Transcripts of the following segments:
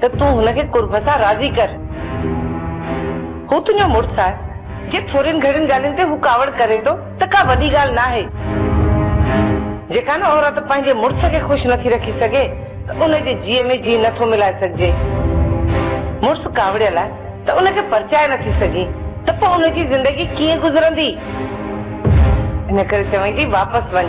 ته تون هن کي قرب سان راضي ڪر. هو تنهنجو مڙس آهي. جي ٿورين گهڻين ڳالهين تي هو ڪاوڙ ڪري ٿو ته ڪا وڏي ڳالهه ناهي. جيڪا نه عورت پنهنجي مڙس کي خوش نٿي رکي سگهي ته ان جي جيء ۾ جيء نٿو ملائي سگهجي. مڙس ڪاوڙيل آهي ته ان کي پرچائي نٿي سگهين ته پوء ان جي زندگي ڪيئن گذرندي. ان ڪري چوين ٿي واپس وڃ.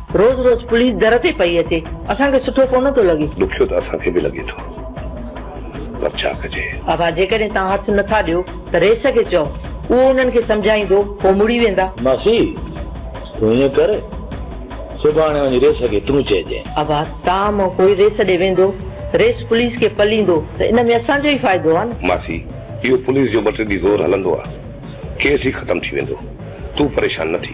روز روز پوليس در تي پئي اچي اسان کي سٺو ڪونه ٿو لڳي. ڏکيو ته اسان کي به لڳي ٿو پر ڇا ڪجي. آغا جيڪڏهن توهان هٿ نه ٿا ڏيو ته رئيس کي چئو اهو انهن کي سمجهائيندو پوء مڙي ويندا. ماسي تون ائين ڪر سڀاڻي وڃي رئيس کي تون چئجانء. آغا توهان مان ڪوئي رئيس ڏي ويندو رئيس پوليس کي پليندو ته ان ۾ اسان جو ئي فائدو آهي نه. ماسي اهو پوليس جو ٻه ٽي ڏينهن زور هلندو آهي ڪيس ئي ختم ٿي ويندو تون پريشان نه ٿي.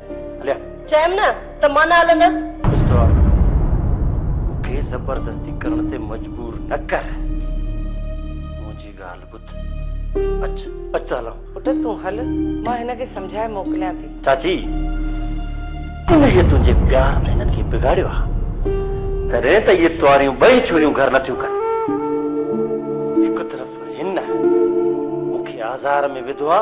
هليا. چيم نه ته مان نه هلندس. مستوار، مون کي زبردستي ڪرڻ تي مجبور نه ڪر. منهنجي ڳالهه ٻڌ. اچ، اچ ته هلان. پٽ تون هل، مان هن کي سمجهائي موڪليان ٿي. چاچي، انهيء تنهنجي پيار ۾ هنن کي بگاڙيو آ. تڏهن ته اهي ٽواريون ٻئي ڇوريون گهر نه ٿيون ڪن. هڪ طرف هن مون کي آزار ۾ وڌو آ.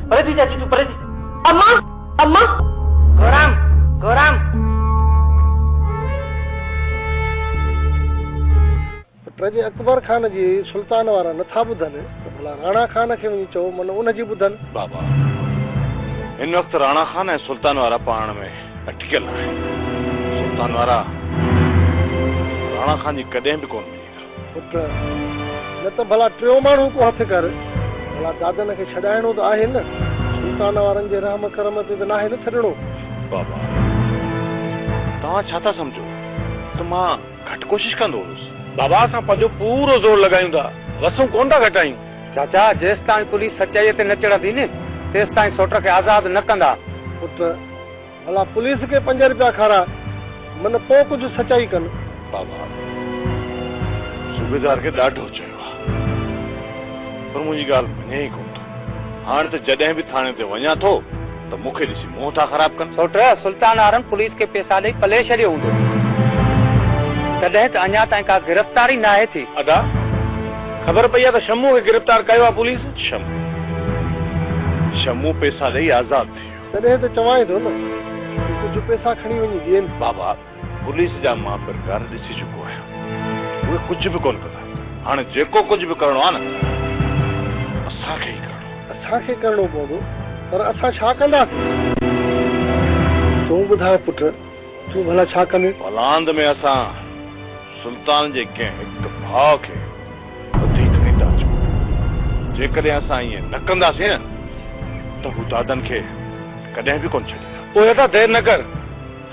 پريتي چاچي تون پريتي اما اما گورام گورام. ته پنهنجي اڪبر خان جي سلطان وارا نٿا ٻڌن ته ڀلا راڻا خان کي وڃي چئو من ان جي ٻڌن. بابا هن وقت راڻا خان ۽ سلطان وارا پاڻ ۾ اٽڪيل آهن سلطان وارا راڻا خان جي ڪڏهن به ڪونه مڃيندا. پٽ، نه ته ڀلا ٽيون ماڻهو ڪو هٿ ڪر. ڀلا دادن کي ڇڏائڻو ته آهي نه. سلطان وارن جي رحم ڪرم تي ته ناهي نه ڇڏڻو. بابا، توهان ڇا ٿا سمجهو ته مان گهٽ ڪوشش ڪندو هوس. بابا، اسان پنهنجو پورو زور لڳايون ٿا، وسون ڪونه ٿا گهٽايون. چاچا، جيستائين پوليس سچائيء تي نه چڙهندي نه، تيستائين سوٽر کي آزاد نه ڪندا. پٽ، ڀلا پوليس کي پنج رپيا کاراء من پو ڪجهه سچائي ڪن. بابا صوبيدار کي ڏاڍو چيو آ پر منهنجي ڳالهه مڃي ئي ڪونه ٿو هاڻ ته جڏهن به ٿاڻي تي وڃان ٿو ته مون کي ڏسي منهن ٿا خراب ڪن. سوٽ، سلطان آرم پوليس کي پيسا ڏئي پلي ڇڏيو هوندو تڏهن ته اڃا تائين ڪا گرفتاري ناهي ٿي. ادا خبر پئي آ ته شمو کي گرفتار ڪيو آ پوليس. شمو شمو پيسا ڏئي آزاد ٿي ويو. تڏهن ته چوانء ٿو نه ته ڪجهه پئسا کڻي وڃي ڏين. بابا، پوليس جا مان پرڪار ڏسي چڪو آهيان. اهي ڪجهه به ڪونه ڪندا. هاڻ جيڪو ڪجهه به ڪرڻو آهي نه، اسان کي ئي ڪرڻو. اسان کي ڪرڻو پوندو، پر اسان ڇا ڪنداسين؟ تون ٻڌاء پٽ، تون ڀلا ڇا ڪندين؟ بلانڌ ۾ اسان سلطان جي ڪنهن هڪ ڀاء کي وڌيڪ ڏيندا اچون. جيڪڏهن اسان ائين نه ڪنداسين نه ته هو دادن کي ڪڏهن به ڪونه ڇڏيندا. پوء اسان دير نه ڪر،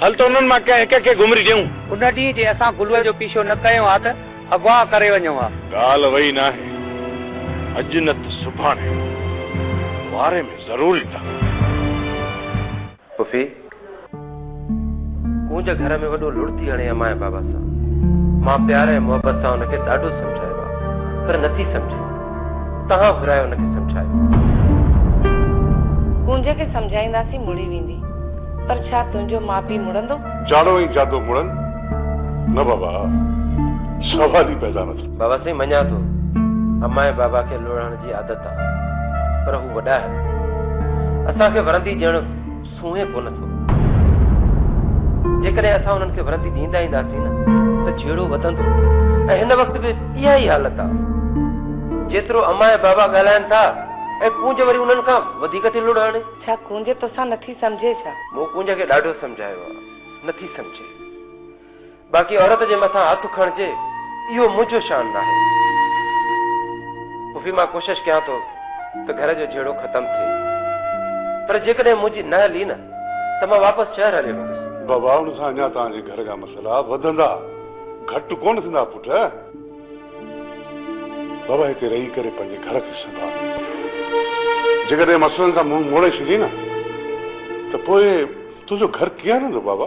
هل ته انهن مان ڪنهن هڪ کي گهمري ڏيون. ان ڏينهن جي اسان گلوء جو پيڇو نه ڪيو ها ته اغوا ڪري وڃون ها. ڳالهه وئي ناهي، اڄ نه ته سڀاڻي واري ۾ ضرور ايندا. پڦي ڪونج گهر ۾ وڏو لڙ ٿي هڻي امايان بابا سان. مان پيار ۽ محبت سان ان کي ڏاڍو سمجهايو آ پر نٿي سمجهي. تهان گهرايو ان کي سمجهايو. ڪونج کي سمجهائينداسين مڙي ويندي. پر ڇا تنهنجو ماء پيء مڙندو؟ جاڙو ۽ جادو مڙن نه بابا. سوال ئي پيدا نه ٿيو. بابا سائين مڃان ٿو. امايان بابا کي لڙهڻ جي عادت هئي. پر هو وڏائر اسان کي ورندي ڏيڻ سونهين ڪونه ٿو. جيڪڏهن اسان انهن کي ورندي ڏيندا اينداسين نه ته جهيڙو وڌندو ۽ هن وقت به اها ئي حالت آ. جيترو امان ۽ بابا ڳالهائن ٿا ۽ ڪونج وري انهن کان وڌيڪ ٿي لڙ هڻي. ڇا ڪونج توسان نٿي سمجهي ڇا؟ مون ڪونج کي ڏاڍو سمجهايو آ، نٿي سمجهي. باقي عورت جي مٿان هٿ کڻجي اهو منهنجو شان ناهي. پڦي مان ڪوشش ڪيان ٿو ته گهر جو جهيڙو ختم ٿئي پر جيڪڏهن منهنجي نه هلي نه ته مان واپس شهر هليو ويندس. بابا ان سان اڃا توهان جي گهر جا مسئلا وڌندا گهٽ ڪونه ٿيندا پٽ. بابا هتي رهي ڪري پنهنجي گهر کي سنڀال. جيڪڏهن مسئلن کان منهن موڙي ڇڏين نه ته پوء تنهنجو گهر ڪيئن هلندو بابا.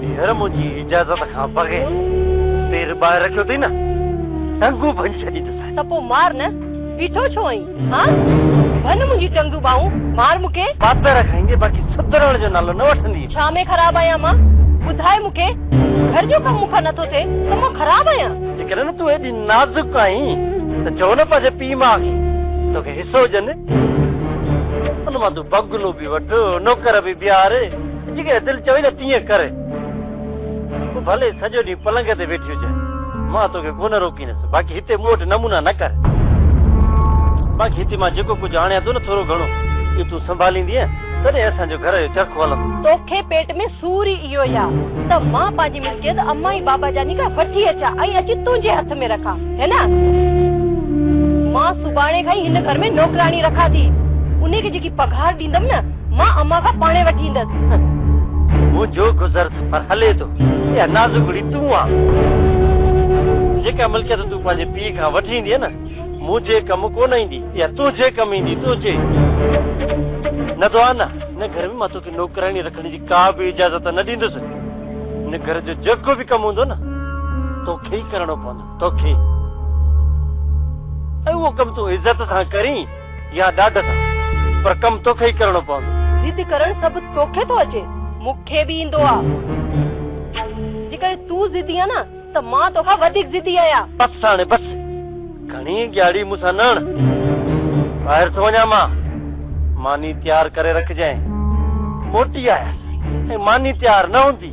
ڀينر منهنجي اجازت کان بغير پير ٻاهر رکيو اٿئي نه ٽنگون ڀڃي ڇڏيندوسانء. ته پوء مار نه، بيٺو ڇو آهين؟ هان؟ ڀڃ منهنجي ٽنگون ٻانهون، مار مون کي. پاتر کائيندي باقي سڌرڻ جو نالو نه وٺندينء. ڇا ۾ خراب آهيان مان؟ ٻڌاء مون کي، گهر جو ڪم مون کان نٿو ٿئي ته مان خراب آهيان؟ جيڪڏهن نه تون ايڏي نازڪ آهين ته چئو نه پنهنجي پيء ماء کي توکي حصو ڏين. ان مان تون بگلو به وٺ، نوڪر به بيهار. جيئن دل چوي نه تيئن ڪر. پوء ڀلي سڄو ڏينهن پلنگ تي ويٺي هجانء، مان توکي ڪونه روڪيندس، باقي هتي مون وٽ نمونا نه ڪر. باقي هتي مان جيڪو ڪجهه آڻيان ٿو نه ٿورو گهڻو، اهو تون سنڀاليندينء، تڏهن اسان جو گهر جو چرخ هلندو. توکي پيٽ ۾ سور ئي اهو ئي آ ته مان پنهنجي ملڪيت امان ۽ بابا جاني کان وٺي اچان ۽ اچي تنهنجي هٿ ۾ رکان، هي نه؟ مان سڀاڻي کان ئي هن گهر ۾ نوڪراڻي رکان ٿي. انهيء کي جيڪي پگهار ڏيندم نه، مان امان کان پاڻهي وٺي ايندس. منهنجو گذر سفر هلي ٿو. اها نازڪڙي تون آن. جيڪا ملڪيت تون پنهنجي پيء کان وٺي ايندينء نه، منهنجي ڪم ڪو نه ايندي. اها تنهنجي ڪم ايندي. تنهنجي. نه ته آن، هن گهر ۾ مان توکي نوڪراڻي رکڻ جي ڪا به اجازت نه ڏيندس. هن گهر جو جيڪو به ڪم هوندو نه، توکي ئي ڪرڻو پوندو. توکي. ۽ اهو ڪم تون عزت سان ڪرين. يا ڏاڍ سان، پر ڪم توکي ئي ڪرڻو پوندو. ضد ڪرڻ سڀ توکي ٿو اچي، مون کي به ايندو آ. جيڪڏهن تون ضدي آ نه ته مان توکان وڌيڪ ضدي آهيان. بس هاڻي بس، گهڻي ڳياڙي مون سان نه هڻ. ٻاهر ٿو وڃان مان، ماني تيار ڪري رکجانء. موٽي آيس ۽ ماني تيار نه هوندي.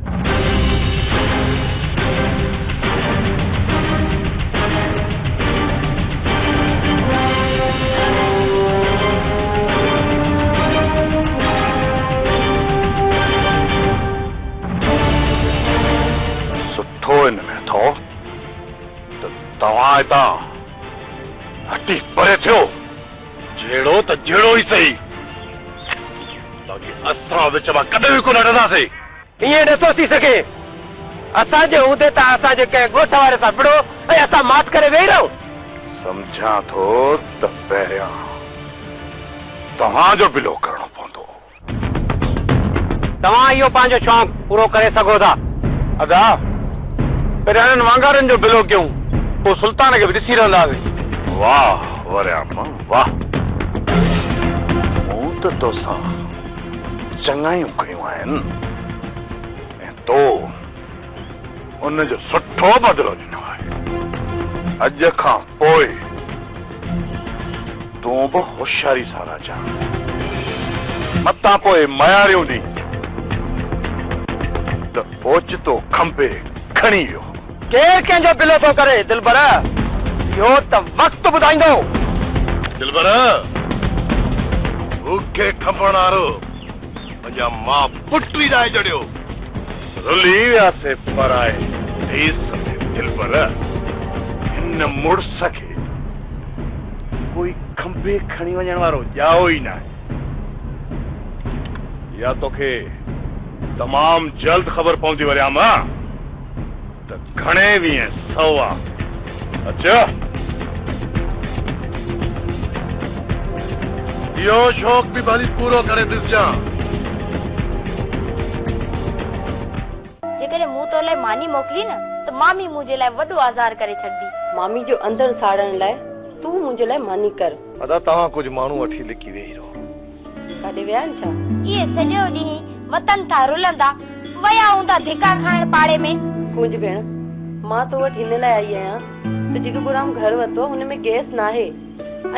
سٺو ان ۾ اٿو ته توهان هتان هٽي پري ٿيو، جهڙو ته جهڙو ئي سهي، باقي اسان وچ مان ڪڏهن به ڪونه هٽنداسين. ائين نٿو ٿي سگهي. اسان جي هوندي ته اسان جي ڪنهن ڳوٺ واري سان وڙهو ۽ اسان ماٺ ڪري ويهي رهون. سمجهان ٿو ته پهريان توهان جو بلو ڪرڻو پوندو. توهان اهو پنهنجو شونق پورو ڪري سگهو ٿا. ادا، پهريان انهن وانگارن جو بلو ڪيون، پوء سلطان کي به ڏسي رهنداسين. واهه وريامڻ واهه. مون ته توسان چڱايون ڪيون آهن ۽ تو ان جو سٺو بدلو ڏنو آهي. اڄ کان پوء تون به هوشياري سان رهجان، متان پوء مياريون ڏينهن ته اوچتو کنڀي کڻي ويو هو. ڪير ڪنهن جو بلو ٿو ڪري دلبر اهو ته وقت ٻڌائيندو. دلبر بوکي کنڀڻ آرو پنهنجا ماء پٽ ئي ڏائي جڙيو رلي ويا سي پرائي ديس ۾ دلبر هن مڙس کي ڪوئي کنڀي کڻي وڃڻ وارو ڄائو ئي ناهي اها توکي تمام جلد خبر پوندي وريام. ته گهڻي ويهين سو آ اچ. اهو شوق به ڀلي پورو ڪري ڏسجان. جيڪڏهن مون تو لاء ماني موڪلي نه ته مامي منهنجي لاء وڏو آزار ڪري ڇڏندي. مامي جو اندر ساڙڻ لاء تون منهنجي لاء ماني ڪر. ادا توهان ڪجهه ماڻهو وٺي لڪي ويهي رهو. ڪاڏي ويا آهن ڇا؟ اهي سڄو ڏينهن وتن ٿا رلندا. ويا هوندا ڌڪا کائڻ پاڙي ۾. ڪونج ڀيڻ، مان تو وٽ هن لاء آئي آهيان ته جيڪو ڪورام گهر ورتو هن ۾ گئس ناهي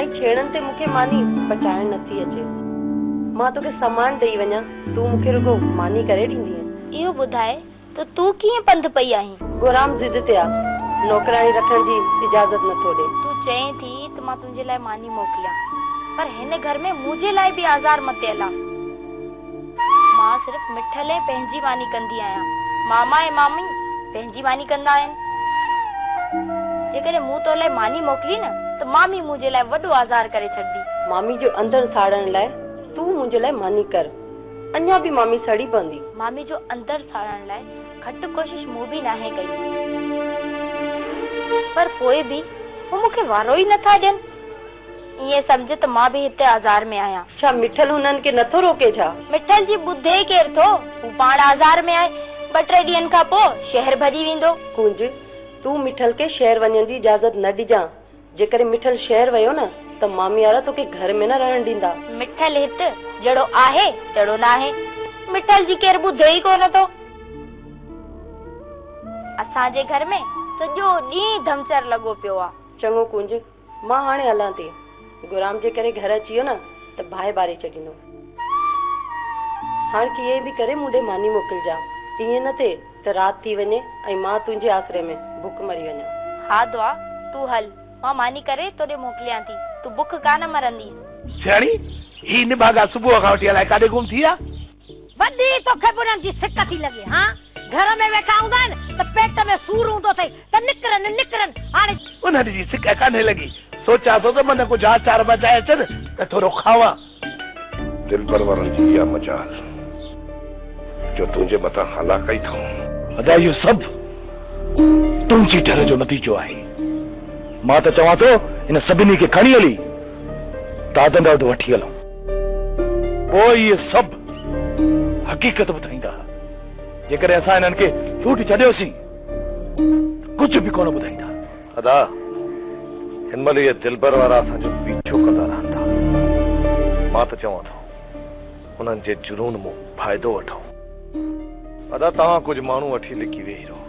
۽ ڇيڙن تي مون کي ماني پچائڻ نٿي اچي. مان توکي سامان ڏئي وڃان، تون مون کي رڳو ماني ڪري ڏيندينء؟ اهو ٻڌائي ته تون ڪيئن پنڌ پئي آهين؟ ڳورام ضد تي آ. نوڪراڻي رکڻ جي اجازت نه ٿو ڏي. تون چئين ٿي ته مان تنهنجي لاء ماني موڪليان. پر هن گهر ۾ منهنجي لاء به آزار متيل آ. مان صرف مٺل ۽ پنهنجي ماني ڪندي آهيان. ماما ۽ مامي پنهنجي ماني ڪندا آهن. جيڪڏهن مون تو لاء ماني موڪلي نه ته مامي منهنجي لاء وڏو آزار ڪري ڇڏندي. مامي جو اندر ساڙڻ لاء تون منهنجي لاء ماني ڪر. اڃا به مامي سڙي پوندي. مامي جو اندر ساڙڻ لاء گهٽ ڪوشش مون به ناهي ڪئي. پر پوء به هو مون کي وارو ئي نٿا ڏين. ائين سمجهه ته مان به هتي آزار ۾ آهيان. ڇا مٺل هنن کي نٿو روڪي ڇا؟ مٺل جي ٻڌي ڪير ٿو. هو پاڻ آزار ۾ آهي. ٻه ٽي ڏينهن کان پوء شهر ڀڄي ويندو. ڪنج، تون مٺل کي شهر وڃڻ جي اجازت نه ڏجان. جيڪڏهن مٺل شهر ويو نه ته ماميارا توکي گهر ۾ نه رهڻ ڏيندا. مٺل هت جهڙو آهي تهڙو ناهي. مٺل جي ڪير ٻڌي ئي ڪونه ٿو. اسان جي گهر ۾ سڄو ڏينهن ڌمچر لڳو پيو آ. چڱو ڪونج، مان هاڻي هلان ٿي. گهرام جي ڪري گهر اچي ويو نه ته باهه ٻاري ڇڏيندو. هاڻ ڪيئن به ڪري مون ڏي ماني موڪلجان. ائين نه ٿئي. ته رات ٿي وڃي ۽ مان تنهنجي آسري ۾ بک مري وڃان. ها دعا، تون هل، مان ماني ڪري تو ڏي موڪليان ٿي، تون بک ڪا نه مرندينء. سياڻي، هي نڀاڳا صبح کان وٺي الائي ڪاڏي گم ٿي ويا؟ وڏي، توکي به انهن جي سڪ ٿي لڳي ها؟ گهر ۾ ويٺا هوندا آهن ته پيٽ ۾ سور هوندو اٿئي ته نڪرن، نڪرن، هاڻي. انهن جي سڪ ڪانهي لڳي، سوچيان ٿو ته من ڪجهه آچار بچائي اچن ته ٿورو کاوان. دل پرورن جي اها مجال، جو تنهنجي مٿان هالاڪائي ٿئون. ادا اهو سڀ تنهنجي ڍر جو نتيجو آهي. مان ته چوان ٿو هن سڀني کي کڻي هلي دادن ڏانهن وٺي هلون. پوء اهي سڀ حقيقت ٻڌائيندا. جيڪڏهن اسان هنن کي ٺوٺ ڇڏيوسين ته ڪجهه به ڪونه ٻڌائيندا. ادا هن مهل اهي دلبر وارا اسان جو پيڇو ڪندا رهن ٿا مان ته چوان ٿو انهن جي جنون مون فائدو وٺون. ادا توهان ڪجهه ماڻهو وٺي لڪي ويهي رهو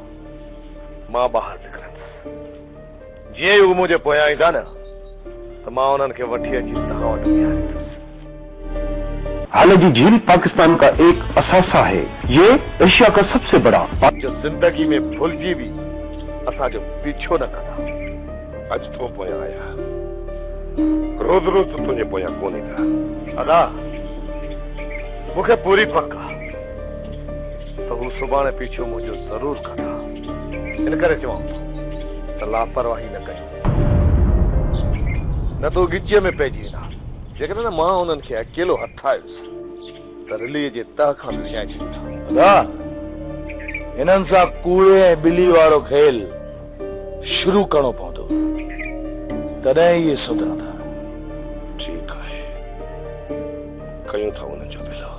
مان ٻاهر نڪرندس جيئن ئي اهي منهنجي پويان ايندا نه ته مان انهن کي وٺي اچي توهان وٽ بيهاريندس. هل جي جھيل پاڪستان ڪا ايڪ اثاثا هي يي ايشيا ڪا سب سي بڙا. جو زندگي ۾ ڀلجي به اسان جو پيڇو نه ڪندا اڄ تو پويان آيا روز روز ته تنهنجي پويان ڪون ايندا. ادا مون کي پوري پڪ آ ته هو سڀاڻي پيڇو منهنجو ضرور ڪندا ان ڪري چوان ٿو ته لاپرواهي نه ڪجو نه ته ڳچيء ۾ پئجي ويندا. جيڪڏهن مان انهن کي اڪيلو هٿ آيس ته رليء جي تهه کان وسيائي ڇڏيندا ها. ادا! هنن سان ڪوڙي ۽ ٻلي وارو کيل شروع ڪرڻو پوندو، تڏهن ئي اهي سڌرندا. ٺيڪ آهي، ڪيون ٿا انهن جو ڀيلو.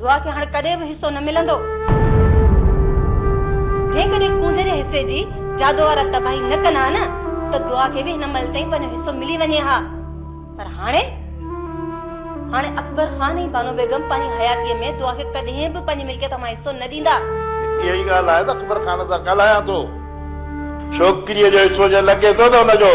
دعا کي هاڻ ڪڏهن به حصو نه ملندو. جيڪڏهن کونجهري حصي جي جادو وارا تباهي نه ڪن ها نه ته دعا کي به هن مهل تائين پنهنجو حصو ملي وڃي ها. پر هاڻي؟ هاڻي اڪبر خان ۽ بانو بيگم پنهنجي حياتيء ۾ دعا کي ڪڏهن به پنهنجي ملڪيت مان حصو نه ڏيندا. اها ئي ڳالهه آهي ته اڪبر خان سان ڳالهايان ٿو. ڇوڪريء جو حصو جنهن لڳي ٿو ته ان جو.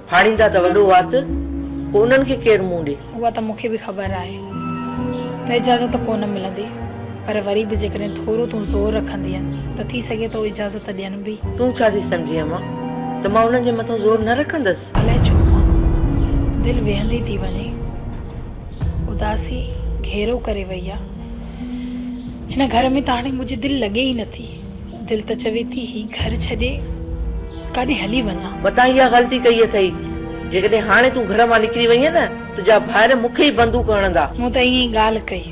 ڦاڙيندا ته وڏو وات، پوء انهن کي ڪير منهن ڏي؟ اها ته مون کي به خبر آهي ته اجازت ڪو نه ملندي، پر وري به جيڪڏهن ٿورو تون زور رکندينء ته ٿي سگهي ٿو اجازت ڏين به. تون ڇا ٿي سمجهين امان ته مان انهن جي مٿان زور نه رکندس؟ الائي ڇو امان دل ويهندي ٿي وڃي. اداسي گهيرو ڪري وئي آ. هن گهر ۾ ته هاڻي منهنجي دل لڳي ئي نٿي. دل ته چوي ٿي هي گهر ڇڏي ڪاڏي هلي وڃان. متان اها غلطي ڪئي اٿئي. جيڪڏهن هاڻي تون گهر مان نڪري وئينء نه تنهنجا ڀائر مون کي ئي بندوق هڻندا. مون ته ائين ئي ڳالهه ڪئي.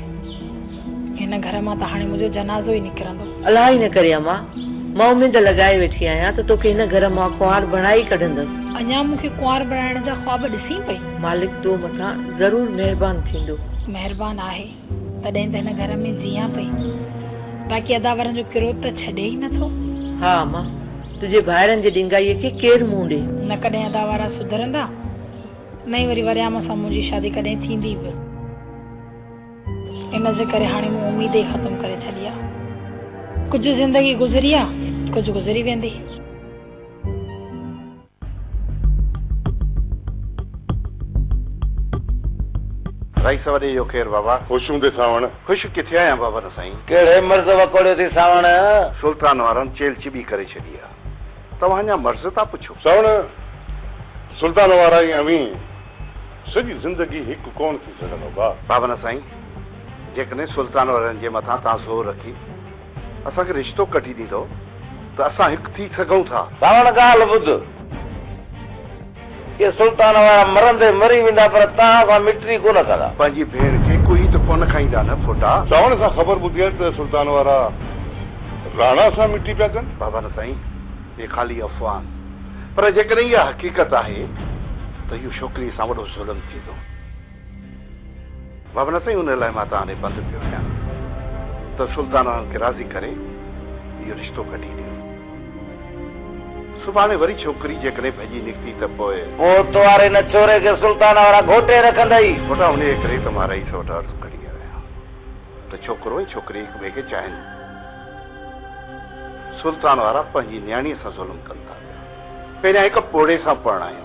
هن گهر مان ته هاڻي منهنجو جنازو ئي نڪرندو. الله ئي نه ڪري امان. مان اميد لڳائي ويٺي آهيان ته توکي هن گهر مان ڪنوار بڻائي ئي ڪڍندس. اڃا مون کي ڪنوار بڻائڻ جا خواب ڏسين پئي. مالڪ تو مٿان ضرور مهربان ٿيندو. مهربان آهي. تڏهن ته هن گهر ۾ جيئان پئي. باقي اداورن جو ڪروڌ ته ڇڏي ئي نه ٿو. ها اما! تنهنجي ڀائرن جي ڏينگائيء کي ڪير منهن ڏي؟ نه ڪڏهن اداورا سڌرندا، نه ئي وري وريام سان منهنجي شادي ڪڏهن ٿيندي به. ان جي ڪري هاڻي مون اميد ئي ختم ڪري ڇڏي آ. ڪجهه زندگي گذري آ، ڪجهه گذري ويندي. رئيس وڏي اهو ڪير بابا؟ خوش هوندين سانوڻ. خوش ڪٿي آهيان بابا نه سائين. ڪهڙي مرض وڪوڙيو ٿي سانوڻ؟ سلطان وارن چيل چٻي ڪري ڇڏي آ. توهان اڃا مرض ٿا پڇو. سانوڻ، سلطان وارا ۽ اوهين سڄي زندگي هڪ ڪونه ٿي سگهندا. بابا نه سائين، جيڪڏهن سلطان وارن جي مٿان توهان زور رکي. اسان کي رشتو ڪڍي ڏيندؤ ته اسان هڪ ٿي سگهون ٿا. ساوڻ ڳالهه ٻڌ. اهي سلطان وارا مرندي مري ويندا پر توهان سان مٽري ڪونه ڪندا. پنهنجي ڀيڻ کي ڪوئي ته ڪونه کائيندا نه ڦوٽا. ساوڻ کان خبر ٻڌي آهي ته سلطان وارا راڻا سان مٽري پيا ڪن. بابا نه سائين اهي خالي افواهه آهن پر جيڪڏهن اها حقيقت آهي ته اهو ڇوڪريء سان وڏو ظلم ٿيندو. بابا نه سائين ان لاء مان توهان ڏي بند پيو رهيان ته سلطان انهن کي راضي ڪري اهو رشتو ڪڍي ڏيو. سڀاڻي وري ڇوڪري جيڪڏهن ڀڄي نڪتي ته پوء. موت واري نه ڇوري کي سلطان وارا گهوٽي رکندئي. پٽا انهيء ڪري ته مان رئيس وٽ عرض ڪڍي آيو آهيان ته ڇوڪرو ۽ ڇوڪري هڪ ٻئي کي چاهين. سلطان وارا پنهنجي نياڻيء سان ظلم ڪن ٿا پيا. پهريان هڪ پوڙهي سان پرڻايم.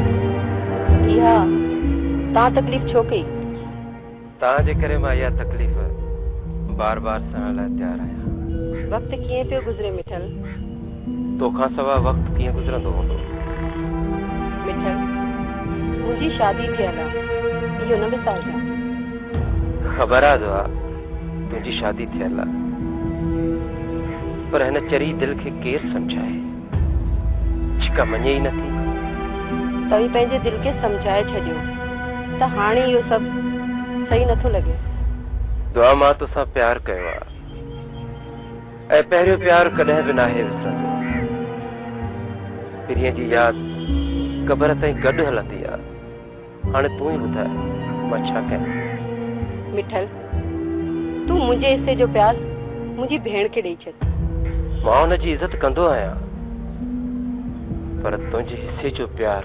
اها تان تڪليف ڇو ڪئي؟ تان جي ڪري مان اها تڪليف بار بار سهڻ لاء تيار آهيان. وقت ڪيئن پيو گذري مٺل؟ تو کان سوا وقت ڪيئن گذرندو هوندو؟ مٺل، منهنجي شادي ٿيل آ، اهو نه وسارجان. خبر آ جو آ. تنهنجي شادي ٿيل آ پر هن چري دل کي ڪير سمجهائي جيڪا مڃي ئي نه ٿي. توهين پنهنجي دل کي سمجهائي ڇڏيو ته هاڻي اهو سڀ صحيح نه ٿو لڳي. دعا مان توسان پيار ڪيو آ ۽ پهريون پيار ڪڏهن به ناهي وسرندو. پرينء جي ياد قبر تائين گڏ هلندي آ. هاڻي تون ئي ٻڌاء مان ڇا ڪيان؟ مٺل، تون منهنجي حصي جو پياز منهنجي ڀيڻ کي ڏئي ڇڏ. مان ان جي عزت ڪندو آهيان، پر تنهنجي حصي جو پيار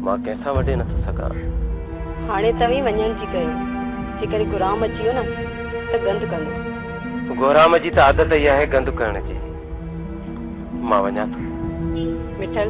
مان ڪنهن سان وڍي نٿو سگهان. هاڻي توهين وڃڻ جي ڪيو، جيڪڏهن گهرام اچي ويو نه ته گند ڪندو. گهرام جي ته عادت ئي آهي گند ڪرڻ جي. مان وڃان ٿو. مٺل.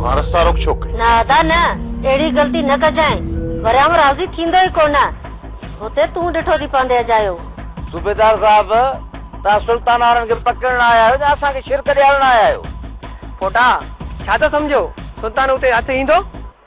توهان رستا روڪ ڇو ڪئي؟ نه ادا نه، اهڙي غلطي نه ڪجانء، وريام راضي ٿيندو ئي ڪونه، سو ته تون ڏٺو ٿي پوندين اجايو. صوبيدار صاحب، توهان سلطان وارن کي پڪڙڻ آيا آهيو يا اسان کي شرڪ ڏيارڻ آيا آهيو؟ پوٽا، ڇا ٿا سمجهو، سلطان اتي هٿ ايندو؟